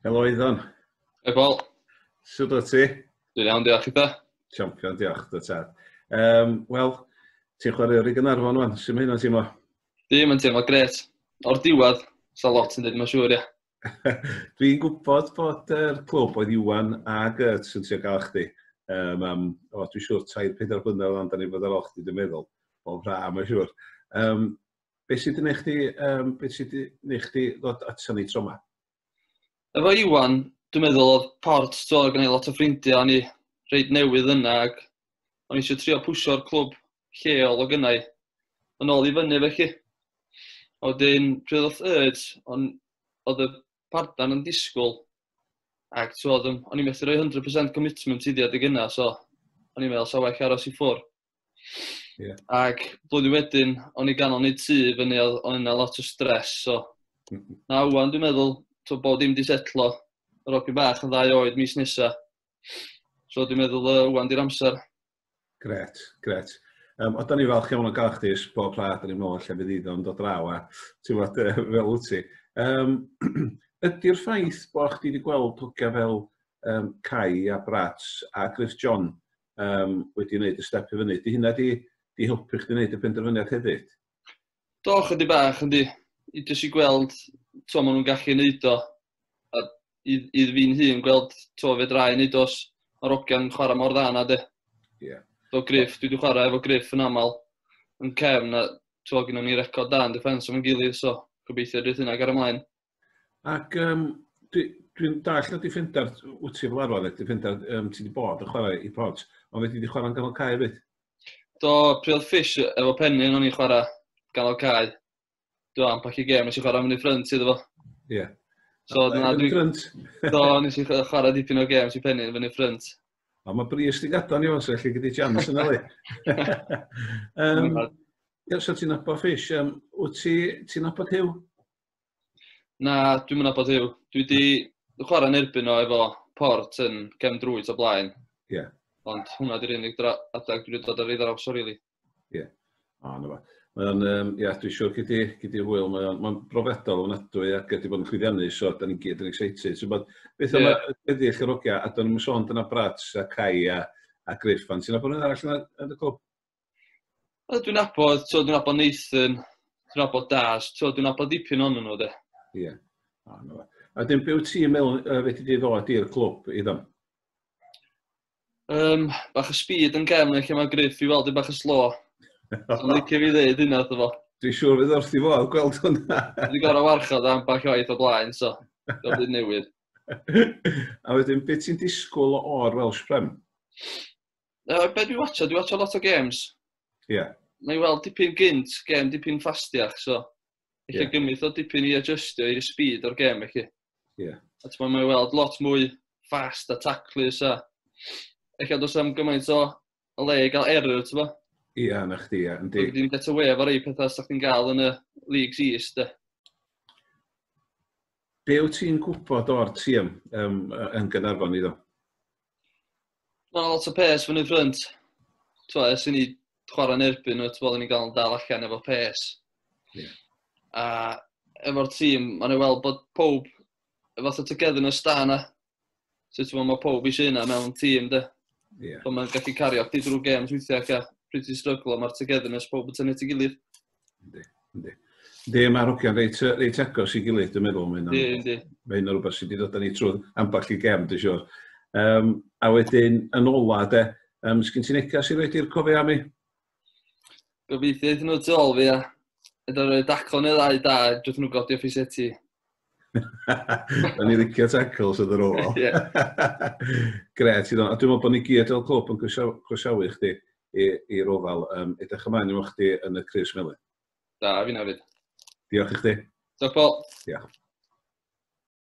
Helo Iddon. Hei Paul. Sut o ti? Dwi'n iawn, diolch eitha. Champion, diolch, dy tad. Um, Wel, ti'n chwarae o'r i Gynarfon o'n, sy'n mynd hynna'n teimlo? Dim yn teimlo gret. O'r diwedd, sa lot yn dweud mae'n siŵr, ia. Dwi'n gwybod bod yr er clwb oedd Iwan a Gert sy'n trio gael chdi. Um, um, o, dwi'n siŵr, tair pedair blynedd o'n da ni fod ar ôl chdi, dwi'n meddwl. O, fra, mae'n siŵr. Um, be sydd wedi chdi, um, be sydd wedi chdi ddod ato ni tro yma? Efo Iwan, dwi'n meddwl oedd port, so, gan ei lot o ffrindiau, o'n i reid newydd yna, ac o'n i eisiau trio pwysio'r clwb lleol o gynnau yn ôl i fyny felly. A wedyn pryd oedd Urge, on, oedd y pardan yn disgwyl ac tywod, o'n i'n methu rhoi 100% commitment i ddiad y gynnau, so o'n i'n meddwl sa well aros i ffwr. Yeah. Ac blwyddyn wedyn, o'n i ganol nid tu fyny, o'n yna lot o stres, so mm-hmm. na wwan dwi'n meddwl, to bod dim di setlo, yr ogyn bach yn ddau oed mis nesa. So dwi'n meddwl uh, wwan di'r amser. Gret, gret. Um, o, da ni falch iawn o gael chdi ys bob pla, da ni'n meddwl lle fydd iddo yn dod draw a ti'n fawr uh, fel wyt ti. Um, Ydy'r ffaith bod chdi wedi gweld hogia fel um, Cai a Brats a Griff John um, wedi wneud y step i fyny, di hynna di, di helpu chdi wneud y penderfyniad hefyd? Do, chydig bach, yndi. I jyst i gweld, to, maen nhw'n gallu neud o. A i, i fi'n hun gweld, to, fe drai neud os mae'r ogian yn chwarae mor dda na de. Ie. Yeah. Do, Griff, dwi wedi chwarae efo Griff yn aml yn cefn, a to, gyda ni record da yn defens o'n gilydd, so gobeithio drwy'r hynna gair ymlaen. Ac um, dwi'n dwi dall na Defender, wyt ti fel arfer, Defender, um, ti wedi bod yn chwarae i Pods, ond wedi wedi chwarae'n ganol cae fyd? Do, Priel Fish, efo penni yn o'n i'n chwarae ganol cae. Do, am pac i gem, nes i chwarae mynd i ffrynt iddo fo. Ie. Yeah. So, dyna dwi'n... Ffrynt? Do, nes i chwarae dipyn o gem, nes i penni yn fyny ffrynt. O, mae bris di gadon i o'n sef, lle gyda jams yna le. um, Iawn, so ti'n nabod Fish, um, wyt ti'n nabod Hugh? Na, dwi'm yn nabod Huw. Dwi 'di chwarae yn erbyn o efo Port yn gefn drwyt o blaen. Ie. Yeah. Ond hwnna 'di'r unig dra- adeg dwi 'di dod ar ei ddraws o rili. Ie. Yeah. O, na fo. Mae o'n, um, ia, dwi'n siŵr gyd i, gyd i hwyl, mae o'n, mae'n brofiadol o'n adwy ac wedi bod yn chwyddiannu, so da ni'n gyd yn excited. So, bod, beth yeah. yma, wedi eich rogia, a da ni'n sôn dyna Brats a Cai a, a Griff, ond sy'n bod yn arall yn y clwb? Wel, dwi'n abod, ti'n dwi'n abod Nathan, dwi'n abod Daz, ti'n dwi'n abod dipyn o'n nhw, de. Ie. Yeah. Oh, no. A dyn byw ti'n meddwl, uh, fe ti di ddod i'r clwb i ddim? Um, bach o speed yn gefn, lle mae Griff i weld i bach o slo. Dwi'n licio fi ddeud hynna, dwi'n fo. Dwi'n siŵr fydd wrth i fo, gweld hwnna. Dwi'n gorau warchod am bach oed o blaen, so. Dwi'n byd newydd. a wedyn, beth ti'n disgwyl o'r Welsh Prem? Uh, be dwi'n watcho? Dwi'n watcho lot o games. Ie. Yeah. Na i weld dipyn gynt, gem dipyn ffastiach, so... Eich yeah. gymryd o dipyn i adjustio i'r speed o'r gem, eich. Ie. Yeah. A ti'n mynd i weld lot mwy fast a taclus a... Eich dos am gymaint o o le i gael error, ti'n mynd? Ie, yeah, na chdi, ie. Yeah, Dwi'n Dwi ddim get away efo rei pethau sy'ch chi'n gael yn y Leagues East, e. Be wyt ti'n gwybod o'r tîm um, yn Gynarfon iddo? Mae yna lot o pes fyny ffrynt. T'mo' ers i ni chwarae'n erbyn nhw t'mo' oedden ni'n gael dal allan efo pes. Yeah. A efo'r tîm ma'n ei weld bod pob y fath o togetherness da yna. So t'mo' ma' pob eisiau hynna mewn tîm de. Yeah. So mae'n gallu cario chdi drwy gêm weithiau ac a pryd ti'n stryglo ma'r togetherness pob yn tynnu at ei gilydd. Yndi, yndi. Yndi, mae hogiau'n reit, reit agos i gilydd, dwi'n meddwl. Mae hynny'n rhywbeth sydd wedi dod â ni trwy ambell i gem, dwi'n siwr. Um, a wedyn, yn ola, de, um, sgyn ti'n eca sy'n rhaid i'r cofio am i? Gobeithio iddyn nhw tu ôl fi, a Ydy rhoi daclo neu ddau da, dwi'n nhw godi off i seti. Da ni licio tacls yn yr ôl. Gret, dwi'n meddwl bod ni gyd o'r clwb yn croesawu chdi. i'r ofal. Um, edrych ymlaen i chdi yn y Cris Melin. Da, fi'n hefyd. Diolch i chdi. Diolch, Paul. Diolch.